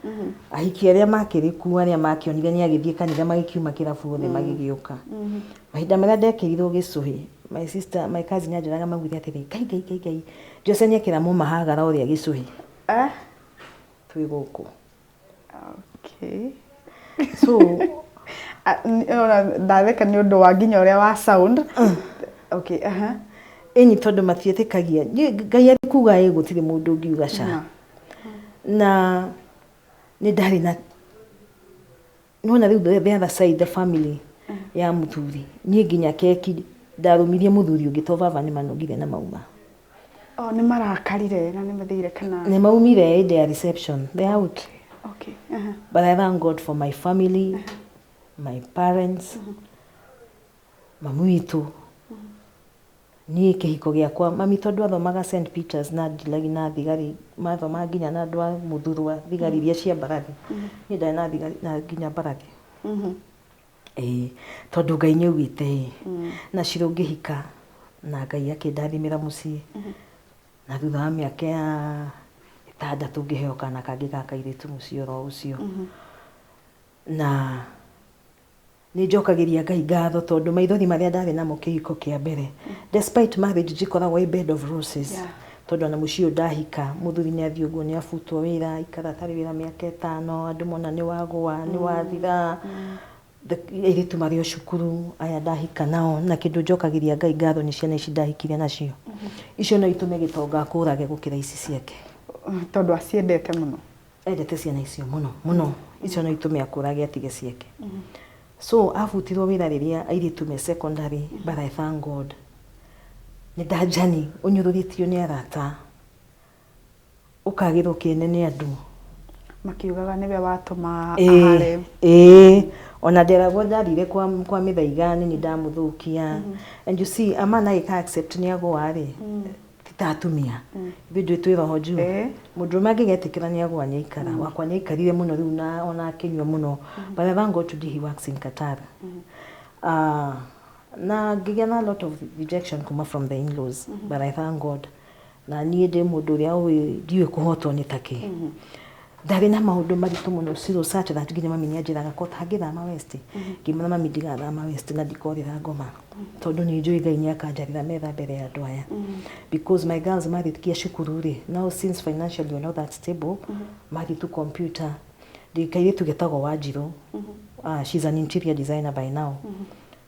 ahiki arĩa makĩrĩ kuo arĩa makĩonire nĩ agĩthiĩ kanitha magĩkiuma kĩrabu othe magĩgĩũka mahinda marĩa ndekĩrirwo gĩcũhĩ my sister my cousin anjĩraga maugire atĩrĩ ngai ngai ngai ngai Jose nĩ ekĩra mũmahagara ũrĩa gĩcũhĩ twĩ gũkũ Okay. So, a- n- ona ndatheka nĩ ũndũ wa nginya ũrĩa wa sound. Okay, aha. ĩni tondũ matiĩtĩkagia Nĩ- ngai arĩ kuga ĩ gũtirĩ mũndũ ũngiuga ca Na. na nĩ ndarĩ na nona rä u the other side the family ya mũthuri niĩ nginya keki ndarũmirie mũthuri ũngĩ to baba nĩ manogire na mauma o nĩ marakarire na nĩ mathire kana nĩ maumire ĩndĩ ya reception they are out okay aha but i thank god for my family my parents Mami witũ, niĩ kĩhiko gĩakwa, mami tondũ athomaga St Peters na Adelaide na thigari, mathoma nginya na andũ a Mũthurwa, thigari iria cia mbarathi, niĩ ndarĩ na thigari na nginya mbarathi. Ĩĩ, tondũ Ngai nĩ augĩte ĩ, na cira ũngĩhika na Ngai akĩndathimĩra mũciĩ, na thutha wa mĩaka ĩtandatũ ngĩheo kana kangĩ ga kairĩtu mũciĩ oro ũcio, na... Nĩ njokagĩria Ngai ngatho tondũ maithori marĩa ndarĩ namo kĩhiko kĩa mbere. Despite marriage ndikoragwo ĩ bed of roses. Yeah. Tondũ ona mũciĩ ũyũ ndahika, mũthuri nĩ athiĩ ũguo nĩ abutwo wĩra, aikara atarĩ wĩra mĩaka ĩtano, andũ mona nĩ wagũa, nĩ wathira. The- Airĩtu marĩ o cukuru, aya ndahika nao, na kĩndũ njokagĩria Ngai ngatho nĩ ciana ici ndahikire nacio. Icio no itũme gĩtonga akũrage gũkĩra ici ciake. Tondũ aciendete mũno. endete ciana icio mũno mũno icio no itũme akũrage atige ciake so abutirwo wĩra rĩrĩa airĩtu me secondary but I thank God nĩ ndanjani ũnyũrũrĩtio nĩ arata ũkagĩrwo kĩene nĩ andũ makiugaga nĩwe watũma Ĩĩ, ahare ĩĩ. ona nderagwo ndarire kwa, kwa mĩthaiga nĩ nĩ ndamũthũkia and you see a man agĩka accept nĩ agũa rĩ ti ta atumia ithuĩ njuĩ twĩ roho njuu Eh. mũndũrũme angĩgetĩkĩra nĩ agwa nĩ aikara wakwa nĩ aikarire mũno rĩu na ona akĩnyua mũno but I thank God today he works in Qatar Ah, na ngĩgĩa na a lot of rejection kuma from the in-laws but I thank God na niĩ ndĩ mũndũ ũrĩa ũĩ ndiũĩ kũhotwo nĩ takĩ ndarĩ na maũndũ maritũ mũno ciro such that nginya mami nĩanjĩraga ko tangĩthama west ngiuga mami ndigathama west na ndikorĩra ngoma tondũ nĩ njũĩ ngai nĩ akanjarĩra metha mbere ya andũ aya because my girls marĩkia cukuru rĩ now since financially we're not that stable mathiĩ tu computer ndĩ kairĩtu getagwo wanjirũ Ah, she's an interior designer by now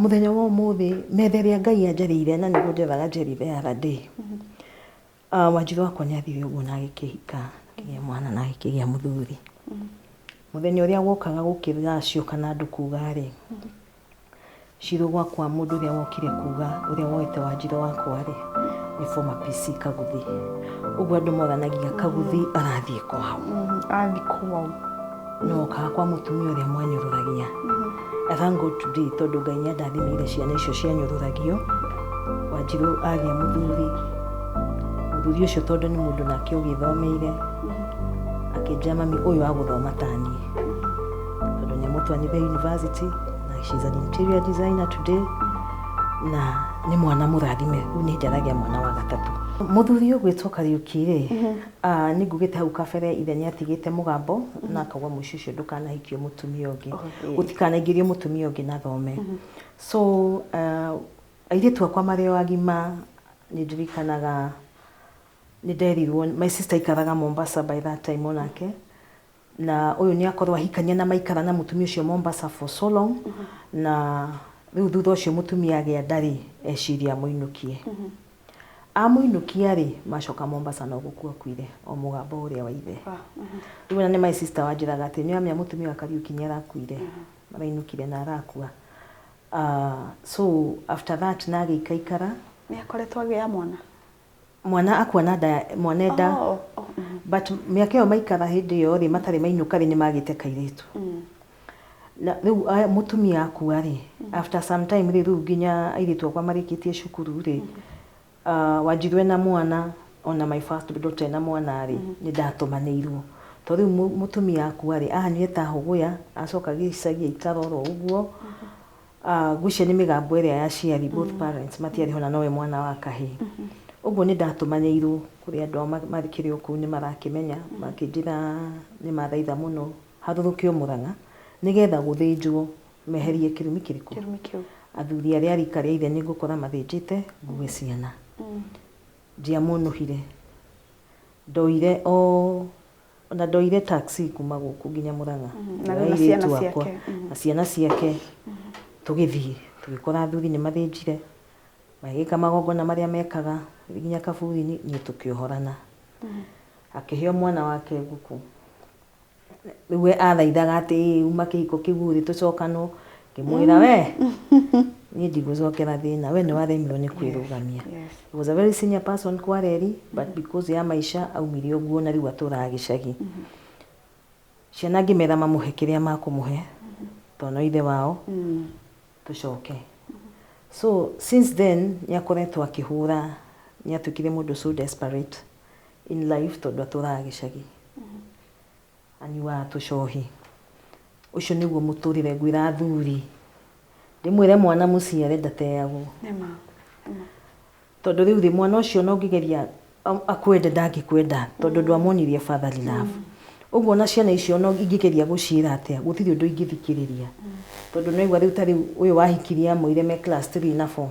Mũthenya wa ũmũthĩ metha ĩrĩa Ngai anjarĩire na nĩguo njethaga Njeri the other day, Wanjirũ wakwa nĩ athire ũguo na agĩkĩhika, akĩgĩa mwana na akĩgĩa mũthuri. Mũthenya ũrĩa wokaga gũkĩrĩra cioka na andũ kuga rĩ, ciro gwakwa mũndũ ũrĩa wokire kuga ũrĩa woete Wanjirũ wakwa rĩ, nĩ former PC Kaguthi. Ũguo andũ moranagia Kaguthi arathiĩ kwao. Athiĩ kwao. no kaga kwa mutumia uria mwanyururagia I thank God today tondu Ngai ni andathimire ciana icio cianyururagio wanjiru agia muthuri muthuri ucio tondu ni mundu nake ugithomeire akinjia mami uyu aguthoma tani tondu ni mutwanire university na she's an interior designer today na ni mwana murathime riu ni njaragia mwana wa gatatu muthuri ugwitwo kariuki ri Ah, nĩ ngugĩte hau kabere ithe nĩ atigĩte mũgambo na akauga mũici ũcio ndũkanahikio mũtumia ũngĩ Oh, yes. gũtikanaingĩrio mũtumia ũngĩ na thome so ah, airĩtu akwa marĩ o agima nĩ ndirikanaga nĩ nderirwo my sister aikaraga Mombasa by that time onake na ũyũ nĩ akorwo ahikania na maikara na mũtumia ũcio Mombasa for so long na rĩu thutha ũcio mũtumia agĩa nda rĩ eciria amũinũkie amũinũkia rĩ macoka Mombasa no gũkua akuire o mũgamba ũrĩa wa ithe rĩu ona nĩ my sister wanjĩraga atĩ nĩ amenya mũtumia wa Kariuki nĩ arakuire arainũkire na arakua Ah, so after that na agĩikaikara nĩ akoretwo agĩa mwana mwana akua na nda ya- mwana enda Oh, oh, oh, mhm. but mĩaka ĩyo maikara hĩndĩ ĩyo rĩ matarĩ mainũka rĩ nĩ magĩte kairĩtu Mm. na rĩu aya- mũtumia akua rĩ after some time rĩ rĩu nginya airĩtu akwa marĩkĩtie cukuru rĩ ah, wanjirũ ena mwana ona my first daughter ena mwana rĩ nĩ ndatũmanĩirwo to rĩu mũ- mũtumia akua rĩ ahanyire ta hũgũya acoka gĩcagi aikara oro ũguo Ah, ngwĩciria nĩ mĩgambo ĩrĩa ya aciari, both parents, matiarĩ ho na nowe mwana wa kahĩĩ. Ũguo nĩ ndatũmanĩirwo kũrĩ andũ ao ma- makĩrĩ o kũu nĩ marakĩmenya, makĩnjĩra nĩ mathaitha mũno harũrũkio Mũrang'a nĩgetha gũthĩnjwo meherie kĩrumi kĩrĩkũ? Kĩrumi kĩu. Athuri arĩa a rika rĩa ithe nĩ ngũkora mathĩnjĩte ngue ciana. Ndiamonũhire. Ndoire o O na ndoire taxi kuuma gũkũ nginya Murang'a, ngĩoya airĩtu akwa na ciana ciake, tũgĩthiĩ. Tũgĩkora athuri nĩ mathĩnjire, magĩka magongona marĩa mekaga, tũgĩthiĩ nginya kaburi-inĩ, niĩ tũkĩohorana. Akĩheo mwana wake ngũkũ. Rĩu we athaithaga atĩ, ĩ uma kĩhiko kĩu rĩ, tũcokanwo. Ngĩmwĩra we, niĩ ndigũcokera thĩna, we nĩwaremirwo nĩ kwĩrũgamia. Yes. He was a very senior person kwa Reri, but because ya maica aumire ũguo na rĩu atũraga gĩcagi. Ciana ngĩmera mamũhe kĩrĩa makũmũhe, tondũ no ithe wao, tũcoke. So since then nĩakoretwo akĩhũra, nĩatuĩkire mũndũ so desperate in life tondũ atũraga gĩcagi. Anyuaga tũcohi. Ũcio nĩguo mũtũrĩre ngwĩra athuri. Ndĩmwĩre mwana mũciare ndateagwo. Tondũ rĩu rĩ mwana ũcio ona ũngĩgeria akwende ndangĩkwenda tondũ ndwamonirie fatherly love. Ũguo ona ciana icio ona ingĩgeria gũciĩra atĩa gũtirĩ ũndũ ingĩthikĩrĩria. Tondũ nĩwaigua rĩu ta rĩu ũyũ wahikirie amũire me class three na four.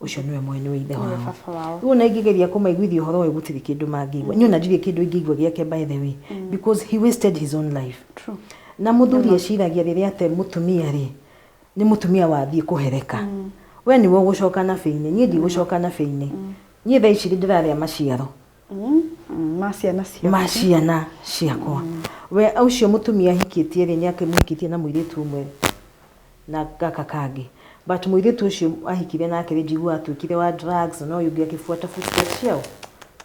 ucio niwe mwene ithe wao baba wao riu ona ingĩgeria kũmaiguithia ũhoro ũyũ gũtirĩ kĩndũ mangĩigua niĩ ona ndirĩ kĩndũ ingĩigua gĩake by the way because he wasted his own life true na mũthuri eciragia rĩrĩa ate mũtumia rĩ nĩ mũtumia wathiĩ kũhereka we nĩwe ũgũcoka na bĩinĩ niĩ ndigũcoka na bĩinĩ niĩ thaa ici rĩ ndĩrarĩa maciaro ma ciana ciaku. ma ciana ciakwa we ũcio mũtumia ahikĩtie rĩ nĩ akĩmũhikĩtie na mũirĩtu ũmwe na gaka kangĩ but mũirĩtu ũcio ahikire nake rĩ njiguaga atuĩkire wa drugs na ũyũ ũngĩ akĩbuata footsteps ciaũ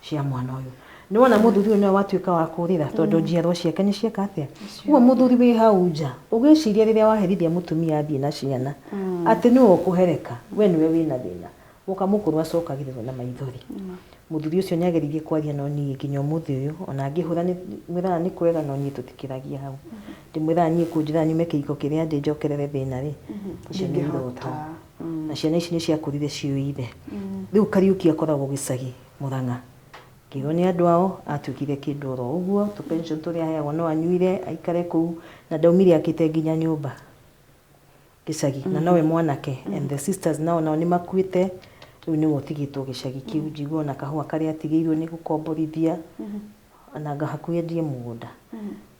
cia mwana ũyũ nĩ wona mũthuri ũyũ nĩwe watuĩka wa kũrĩra tondũ njiarwa ciake nĩ cieka atĩa ũguo mũthuri wĩ hau nja ũgĩciria rĩrĩa waherithia mũtumia athiĩ na ciana atĩ nĩwe ũkũhereka we nĩwe wĩna thĩna Gũka mũkũrũ acokagĩrĩrwo na maithori. Mũthuri ũcio nĩageririe kwaria no niĩ nginya ũmũthĩ ũyũ ona ngĩhũra mwĩraga nĩ kwega no niĩ tũtikĩragia hau. Ndĩmwĩraga niĩ kũnjĩra nyume kĩhiko kĩrĩa ndĩ njokerere thĩna rĩ, icio nĩ iroto. Na ciana ici nĩciakũrire ciũĩ ithe. Rĩu Kariuki akoragwo gĩcagi Mũrang'a. Ngĩrwo nĩ andũ ao atuĩkire kĩndũ oro ũguo, tũ pension tũrĩa aheagwo no anyuire aikare kũu na ndaumire akĩte nginya nyũmba. gĩcagi na nowe mwanake and the sisters nao nao nĩ makuĩte rĩu nĩwe ũtigĩtwo gĩcagi kĩu njigua ona kahũa karĩa atigĩirwo nĩ gũkomborithia na nga- hakuhĩ endie mũgũnda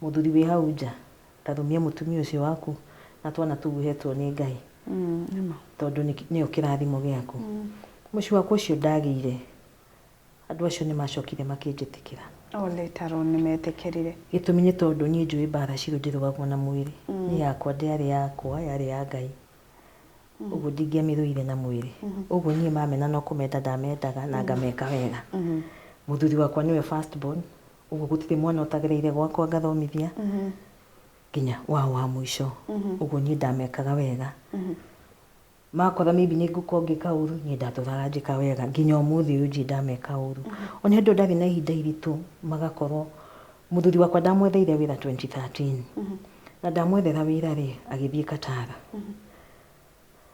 mũthuri wĩ hau nja ndarũmia mũtumia ũcio waku na twana tũu ũhetwo nĩ ngai tondũ nĩ- nĩyo kĩrathimo gĩaku mũciĩ wakwa ũcio ndagĩire Andũ acio nĩ maacokire makĩnjĩtĩkĩra. O na tondũ nĩ meetĩkĩrire. Gĩtũmi nĩ tondũ niĩ njũĩ mbaara ciothe irũagwo na mwĩrĩ. Niĩ yakwa ndĩarĩ yakwa, yarĩ ya Ngai. Ũguo ndingĩamĩrũire na mwĩrĩ. Ũguo niĩ mamena no kũmenda ndamendaga na ngameka wega. Mũthuri wakwa nĩwe first born, ũguo gũtirĩ mwana ũtagereire gwakwa ngathomithia, nginya wao wa mũico. Ũguo niĩ ndamekaga wega. Makora maybe nĩ ngũkorwo ngĩka ũru, niĩ ndatũraga njĩka wega nginya ũmũthĩ ũyũ ndirĩ ndameka ũru. Ona hĩndĩ ĩyo ndarĩ na ihinda iritũ magakorwo, mũthuri wakwa ndamwetheire wĩra 2013. Na ndamwethera wĩra rĩ, agĩthiĩ Qatar.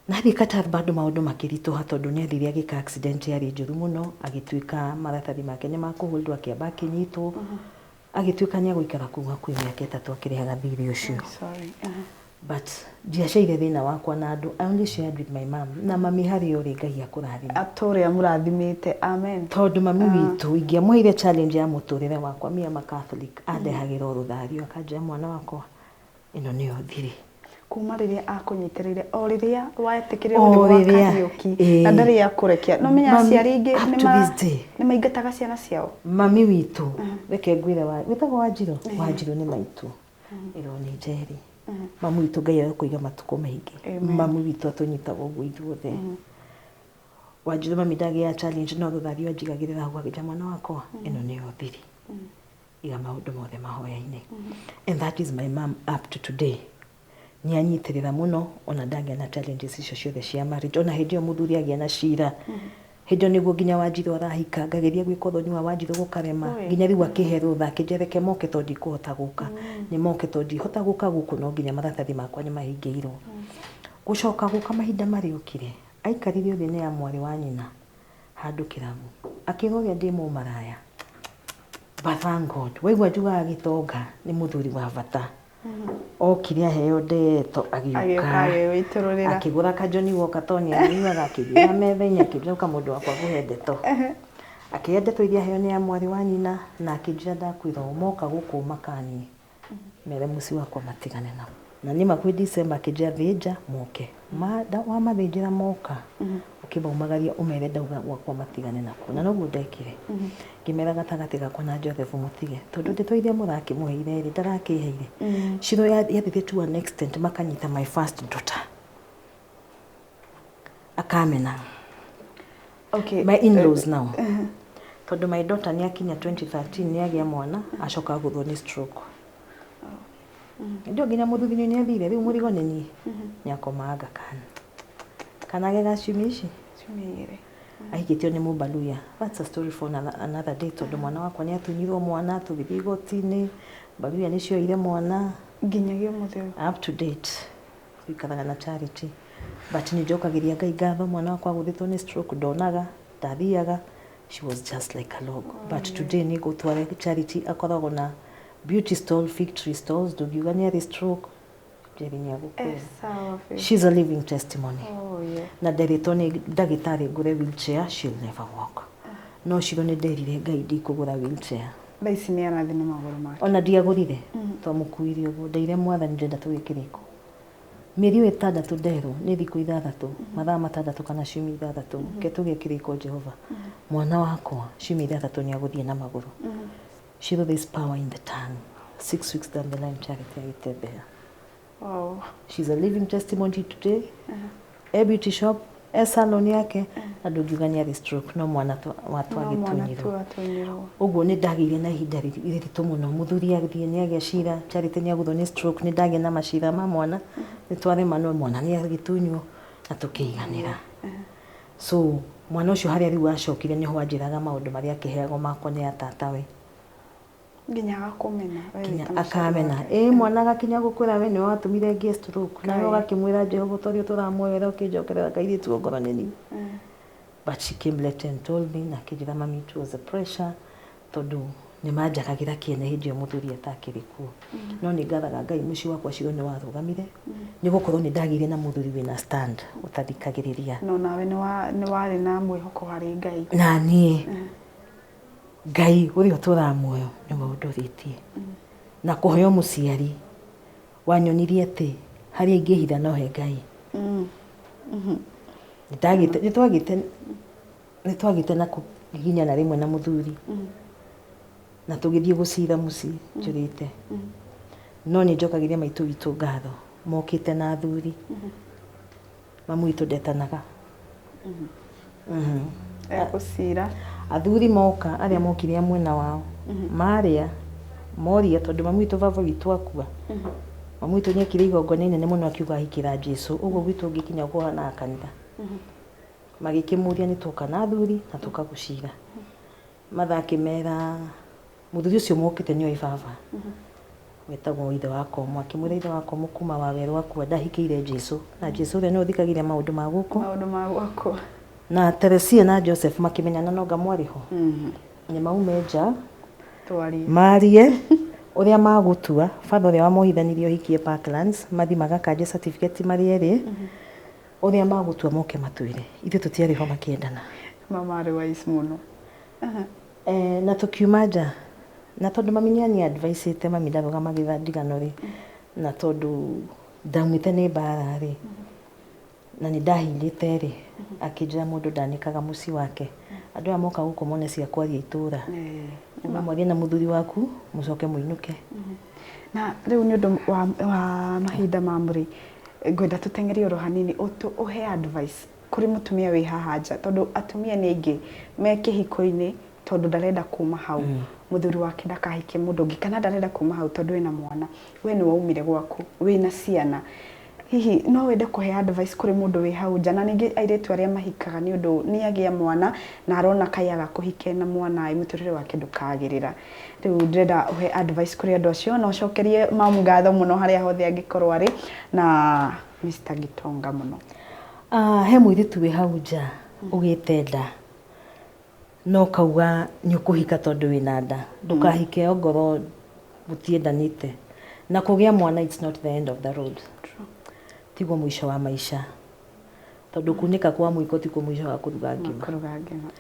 Na athiĩ Qatar bado maũndũ makĩritũha tondũ nĩ athire agĩka accident yarĩ njũru mũno, agĩtuĩka maratathi make nĩ ma kũ hold wo akĩamba akĩnyitwo, agĩtuĩka nĩ egũikara kũu hakuhĩ mĩaka ĩtatũ akĩrĩhaga thirĩ ũcio. But ndiacaire thĩna wakwa na andũ I only shared with my mom na mami harĩa ũrĩ Ngai akũrathime. Atũre amũrathimĩte. Amen. Tondũ mami witũ ingĩamũheire challenge ya mũtũrĩre wakwa me am a Catholic andehagĩra o rũthario akanjĩra mwana wakwa ĩno nĩyo thiri. Kuma rĩrĩa akũnyitĩrĩire o rĩrĩa wetĩkĩrĩrwo nĩ O gwa rĩrĩa, Kariũki ĩĩ. na ndarĩ akũrekia. Nĩ ũmenyaga Mami, aciari aingĩ up nĩ to ma- this day. nĩ maingataga ciana ciao. Mami witũ reke ngwĩre wa wĩtagwo Wanjirũ? Wanjirũ nĩ maitũ. ĩno nĩ njeri mamu witũ ngai agakũiga matukũ maingĩ Amen. mamu witũ atũnyitaga ũguo ithuothe wanjirĩ mami ndagĩa challenge no thuthario anjigagĩrĩra hau agĩta mwana wakwa ĩno nĩyo thiri iga maũndũ mothe mahoya-inĩ and that is my mom up to today nĩ anyitĩrĩra mũno ona ndagĩa na challenges icio ciothe cia marriage ona hĩndĩ ĩyo mũthuri agĩa na cira Hĩnjo nĩguo nginya Wanjirũ arahika ngageria gwĩka ũthoni wa Wanjirũ gũkarema nginya rĩu akĩhe rũtha akĩnjĩra reke moke to ndikũhota gũka nĩ moke to ndihota gũka gũkũ no nginya maratathi makwa nĩ mahingĩirwo. Gũcoka gũka mahinda marĩa okire aikarire ũthĩ nĩ ya mwarĩ wa nyina handũ kĩrabu akĩra ũrĩa ndĩ mũmaraya but thank God waigua njugaga gĩtonga nĩ mũthuri wa bata. okire aheo ndeto agĩũka akĩgũra kajoni woka to nĩ anyuaga akĩgĩra metha-inĩ akĩnjoka mũndũ wakwa gũhe ndeto akĩhe ndeto iria aheo nĩ mwarĩ wa nyina na akĩnjĩra ndakwĩra ũũ moka gũkũ makanie mere mũciĩ wakwa matigane nao na niĩ makuhĩ December akĩnjĩra thĩnja moke Ma- nda- wamathĩnjĩra moka ũkĩmaumagaria ũmere ndauga gwakwa matigane nakuo na noguo ndekire ngĩmera gatagatĩ gakwa na jothefu mũtige tondũ ndeto iria mũrakĩmũheire rĩ ndarakĩheire ciro ya- yathiĩte to an extent makanyita my first daughter akamena okay. my in-laws now tondũ my daughter nĩ akinya 2013 nĩ agĩa mwana acoka agũthwo nĩ stroke Hĩndĩ ĩyo nginya mũthuthinyu nĩ athire, rĩu mũrigo nĩ niĩ. Nĩ akomanga kana. Kana ge ga ciumia ici, ciumia igĩrĩ. Ahikĩtio nĩ mũmbaluya. That's a story for another, another day tondũ mwana wakwa nĩ atunyirwo mwana, tũgĩthiĩ igoti-inĩ, mbaluya nĩ cioire mwana. Nginyagia ũmũthĩ ũyũ. Up to date. Tũikaraga na Charity. But nĩ njokagĩria Ngai ngatho, mwana wakwa agũthĩtwo nĩ stroke, ndonaga, ndathiaga, she was just like a log. But today nĩ ngũtwara Charity, akoragwo na, Beauty stall, fig tree stalls, ndugiuga nĩ arĩ stroke, Njeri nĩ agũkua. Eh, sawa Faith. She's a living testimony. Oh, yeah. na nderĩtwo nĩ ndagĩtarĩ ngũre wheelchair she'll never walk no ciro nĩ nderire ngai ndikũgũra wheelchair Thaa ici nĩ arathiĩ na magũrũ make. ona ndiagũrire twamũkuire ũguo ndeire mwathani ndĩrenda tũgĩe kĩrĩko mĩeri ĩyo ĩtandatũ nderwo nĩ thikũ ithathatũ mathaa matandatũ kana ciumia ithathatũ ke tũgĩe kĩrĩko jehova mwana wakwa ciumia ithathatũ nĩ agũthiĩ na magũrũ Shiva, there's power in the tongue. Six weeks down the line, Charity Aitebea. Wow. She's a living testimony today. Uh -huh. A beauty shop, a salon yake, uh -huh. na ndũngiugania the stroke no mwana watu agĩtunyirwo ũguo nĩ ndagĩire na ihinda rĩritũ mũno mũthuri agĩthiĩ nĩ agĩa cira charity nĩ agũthwo nĩ stroke nĩ ndagĩa na macira ma mwana nĩ twarema no mwana nĩ agĩtunywo na tũkĩiganĩra uh -huh. So, mwana ũcio harĩa rĩu acokire nĩho anjĩraga maũndũ marĩa akĩheagwo makwa nĩ a tatawe. Nginya agakũmena we Nginya wĩta mũciari akamena. wake. Ĩĩ mwana agakinya gũkwĩra we nĩwe watũmire ngĩe stroke. Nawe Kaĩ. ũgakĩmwĩra Jehova ũta ũrĩa ũtũramwoera ũkĩnjokerera kairĩtu o ngoro nĩ niĩ. Mm. But she came later and told me na akĩnjĩra mami it was the pressure. Tondũ nĩmanjakagĩra kĩene hĩndĩ ĩyo mũthuri atakĩrĩ kuo. No nĩngathaga Ngai mũciĩ wakwa ũcio nĩwarũgamire, nĩgũkorwo nĩndagĩire na mũthuri wĩna stand, ũtathikagĩrĩria. Na onawe nĩwarĩ na mwĩhoko harĩ Ngai. Na niĩ, Ngai ũrĩa ũtũũraga muoyo nĩwe ũndũrĩtie. Na kũheo mũciari, wanyonirie atĩ harĩa ingĩhitha no he Ngai. Nĩtwagĩte... nĩ twagĩte na kũginyana rĩmwe na mũthuri na tũgĩthiĩ gũcira mũciĩ njũrĩte no nĩ njokagĩria maitũ witũ ngatho mokĩte na athuri mamu witũ ndetanaga Mhm. egũcira athuri moka arĩa mokire a mwena wao marĩa moria tondũ mamu witũ baba witũ akua mamu witũ nĩ ekire igongona inene mũno akiuga ahikĩra jesu ũguo gwitũ ũngĩkinya ũkũhanaga kanitha Magĩkĩmũria nĩ twoka na athuri na tũkagũcira. Matha akĩmera mũthuri ũcio mũkĩte nĩ oĩ baba wetagwo ithe wa komo. Akĩmwĩra ithe wa komo kuma wawerũ akua ndahikĩire Jesu na Jesu ũrĩa nĩwe ũthikagĩrĩria maũndũ ma gũkũ. Maũndũ ma gũkũ. Na Teresia na Joseph makĩmenyana na onga mwarĩ ho. Nĩ maume nja marie ũrĩa magũtua. Baba ũrĩa wamohithanirie ũhiki e Parklands mathi magakanje certificate marĩ erĩ. Ũrĩa magũtua moke matwĩre. Ithuĩ tũtiarĩ ho makĩendana. Mama arĩ wise mũno. Eh, na tũkiuma nja. Na tondũ mami nĩ anyi advice ĩte mami ndarũgama gĩtha ndigano rĩ, na tondũ ndaumĩte nĩ mbara rĩ, na nĩ ndahindĩte rĩ, akĩnjĩra mũndũ ndanĩkaga mũciĩ wake. Andũ aya moka gũkũ mone cia kwaria itũra. Ũmũmorie na mũthuri waku mũcoke mũinũke. Na rĩu nĩ ũndũ wa, wa mahinda mamu rĩ, ngwenda tũteng'erie oro hanini ũtũ, ũhe advice kũrĩ mũtumia wĩ haha nja tondũ atumia nĩ aingĩ me kĩhiko-inĩ tondũ ndarenda kuma hau mũthuri wake ndakahike mũndũ ũngĩ kana ndarenda kuma hau tondũ ena mwana, we nĩ waumire gwaku wĩna ciana. Hihi no wende kũhe advice kũrĩ mũndũ wĩ hau nja na ningĩ airĩtu arĩa mahikaga nĩ ũndũ nĩ agĩa mwana na arona kaĩ aga kũhika ena mwana ĩ mũtũrĩre wake ndũkagĩrĩra. Rĩu ndĩrenda ũhe advice kũrĩ andũ acio na ũcokerie mom ngatho mũno harĩa hothe angĩkorwo arĩ na Mister Gitonga mũno. He mũirĩtu wĩ hau nja ũgĩte nda No ũkauga nĩũkũhika tondũ wĩna nda. Ndũkahike ongorwo mũtiendanĩte. Na kũgĩa mwana it's not the end of the road. Tiguo mũico wa maica. Tondũ kunĩka kwa mũiko tikuo mũico wa kũruga ngima.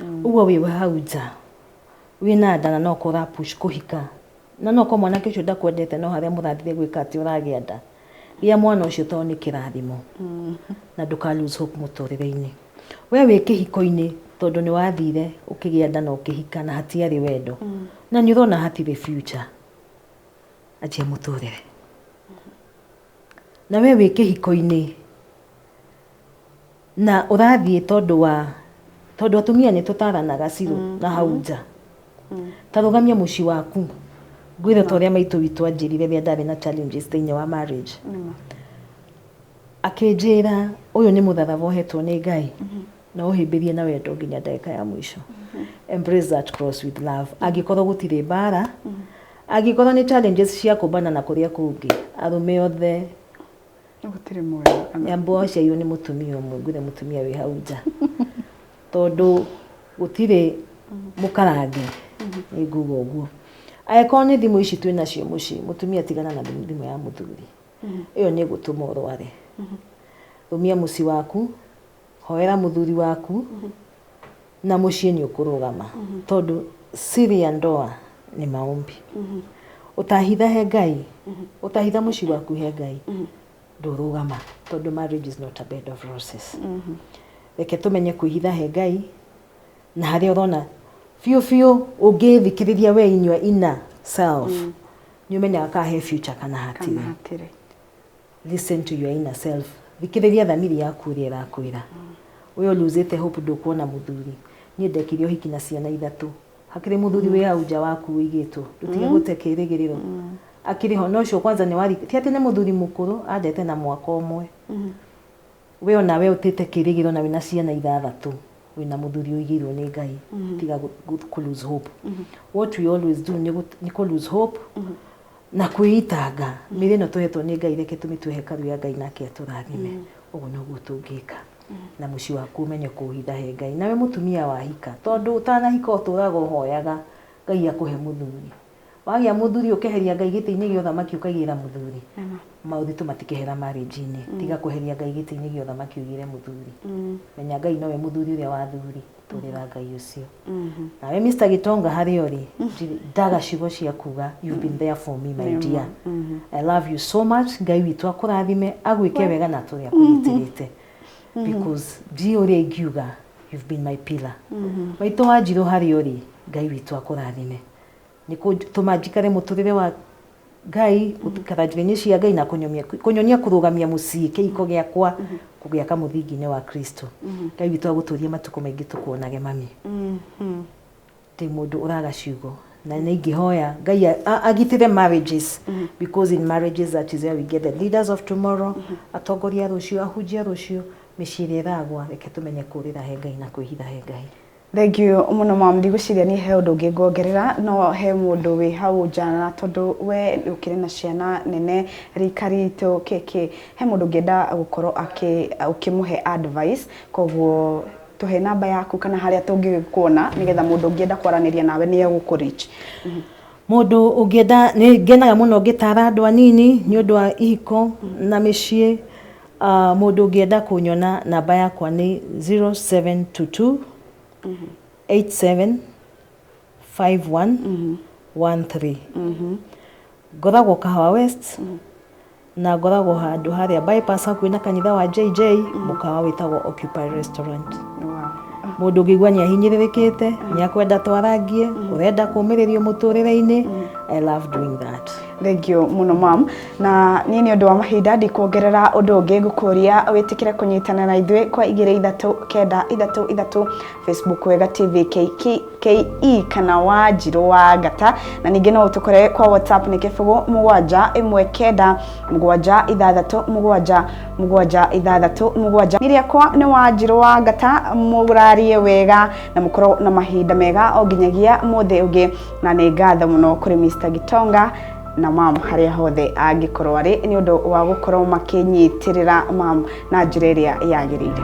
Mm. Ũguo wĩ hau nja wĩna nda na no kũra push kũhika na no kwa mwanake ũcio ndakwendete no harĩa mũrathire gwĩka atĩ ũragĩa nda Gĩa mwana ũcio tondũ nĩ kĩrathimo na ndũka lose hope mũtũrĩre-inĩ. We wĩ kĩhiko-inĩ tondũ nĩ wathire ũkĩgĩa nda na ũkĩhika na hatiarĩ wendo na nĩ ũrona hatirĩ future. Anjia mũtũrĩre. Na we wĩ kĩhiko-inĩ Na ũrathiĩ tondũ wa tondũ atumia nĩ tũtaranaga cirũ mm. na hau nja mm. ta rũgamia mũciĩ waku ngwĩre ta ũrĩa maitũ witũ anjĩrire rĩrĩa ndarĩ na challenges thĩinĩ wa marriage akĩnjĩra ũyũ nĩ mũtharaba ũhetwo nĩ ngai mm-hmm. na ũhĩmbĩrie na wendo nginya ndagĩka ya mũico mm-hmm. embrace that cross with love mm-hmm. angĩkorwo gũtirĩ mbara angĩkorwo nĩ challenges cia kũmbana na kũrĩa kũngĩ arũme othe gũtirĩ mwega kana nyambo waciairwo nĩ mũtumia ũmwe ngwĩre mũtumia wĩ hau nja tondũ gũtirĩ mũkarange nĩ nguga ũguo angĩkorwo nĩ thimũ ici twĩ nacio mũciĩ mũtumia tigana na thimũ thimũ ya mũthuri ĩyo nĩ ĩgũtũma ũrware rũmia mũciĩ waku Hoera mũthuri waku na mũciĩ nĩ ũkũrũgama tondũ siri ya ndoa nĩ maombi ũtahitha he ngai ũtahitha mũciĩ waku he ngai ndũrũgama tondũ marriage is not a bed of roses reke tũmenye kwĩhitha he ngai na harĩa ũrona biũ biũ ũngĩthikĩrĩria we inyua ina self nĩ ũmenyaga kana he future kana hatirĩ Kana hatirĩ. listen to your inner self thikĩrĩria thamiri yaku ĩrĩa ĩrakwĩra ũyũ luzĩte hope ndũkuona mũthuri niĩ ndekire ũhiki na ciana ithatũ hakĩrĩ mũthuri wĩ hau nja waku wĩigĩtwo ndũtige gũte kĩrĩgĩrĩro akĩrĩ ho na ũcio kwanza nĩ wari ti atĩ nĩ mũthuri mũkũrũ andete na mwaka ũmwe we ona we ũtĩte kĩrĩgĩro na wĩna ciana ithathatũ wĩna mũthuri ũigĩirwo nĩ ngai tiga gũ- gũ- kũ lose hope what we always do nĩ gũ- nĩ kũ lose hope Na kwĩitanga, mĩĩrĩ ĩno tũhetwo nĩ Ngai reke tũmĩtue hekarũ ya Ngai nake atũrathime. Ũguo noguo tũngĩka. Na mũciĩ waku ũmenye kũũhitha he Ngai. Nawe mũtumia wahika, tondũ ũtanahika ũtũũraga ũhoyaga Ngai akũhe mũthuri. Wagĩa mũthuri ũkeheria Ngai gĩtĩ-inĩ gĩa ũthamaki ũkaigĩrĩra mũthuri? Maũritũ matikehera marriage-inĩ, tiga kweheria Ngai gĩtĩ-inĩ gĩa ũthamaki ũigĩre mũthuri. Menya Ngai nowe mũthuri ũrĩa wa athuri. tũrĩra ngai ũcio nawe Mr. Gitonga harĩa ũrĩ ndirĩ- ndaga ciugo cia kuga you've been there for me my dear I love you so much ngai witũ akũrathime agwĩke wega na tũrĩa kũnyitĩrĩte because ndiĩ ũrĩa ingiuga you've been my pillar maitũ wa njirũ harĩa ũrĩ ngai witũ akũrathime nĩ kũtũma njikare mũtũrĩre wa Ngai, gũikara njĩra-inĩ cia Ngai na kũnyomia- kũnyonia kũrũgamia mũciĩ kĩhiko gĩakwa kũgĩaka mũthingi-inĩ wa Kristo. Ngai witũ agũtũrie matukũ maingĩ tũkuonage mami. Ndĩ mũndũ ũraga ciugo na nĩ ingĩhoya Ngai a- a- agitĩre marriages because in marriages that is where we get the leaders of tomorrow, atongoria a rũciũ, ahunjia a rũciũ, mĩciĩ ĩrĩa ĩragwa reke tũmenye kũũrĩra he Ngai na kwĩhitha he Ngai. Thengiũ mũno mamu, ndigwĩciria niĩ he ũndũ ũngĩ ngongerera, no he mũndũ wĩ hau nja na tondũ we ũkĩrĩ na ciana nene rika ritũ kĩkĩ, he mũndũ ũngĩenda gũkorwo akĩ ũkĩmũhe advice, koguo tũhe namba yaku kana harĩa tũngĩkuona nĩgetha mũndũ ũngĩenda kwaranĩria nawe nĩ egũkũ reach. Mũndũ ũngĩenda, nĩ ngenaga mũno ngĩtara andũ anini nĩ ũndũ wa ihiko na mĩciĩ, Aah mũndũ ũngĩenda kũnyona namba yakwa nĩ 0722 87 51 13 ngoragwo kahawa west na ngoragwo handũ harĩa bypass hakuhĩ na kanitha wa jj mũkawa wĩtagwo occupy restaurant mũndũ ũngĩigua nĩ ahinyĩrĩrĩkĩte nĩ akwenda twarangie ũrenda kũmĩrĩrio mũtũrĩre-inĩ i love doing that Thank you mũno mam. na niĩ nĩ ũndũ wa mahinda ndikuongerera ũndũ ũngĩ ngũkũria wĩtĩkĩre kũnyitana na ithuĩ kwa igĩrĩ ithatũ kenda ithatũ ithatũ facebook wega tv ke kana wa njirũ wa ngata na ningĩ no ũtũkore kwa whatsapp nĩ kĩbũgũ mũgwanja ĩmwe kenda mũgwanja ithathatũ mũgwanja mũgwanja ithathatũ mũgwanja nĩ rĩakwa nĩ wa njirũ wa ngata mũrarie wega na mũkorwo na mahinda mega o nginyagia mũthĩ ũngĩ na nĩ ngatho mũno kũrĩ mr gitonga na mam harĩa hothe angĩkorwo arĩ nĩ ũndũ wa gũkorwo makĩnyitĩrĩra mam na njĩra ĩrĩa yagĩrĩire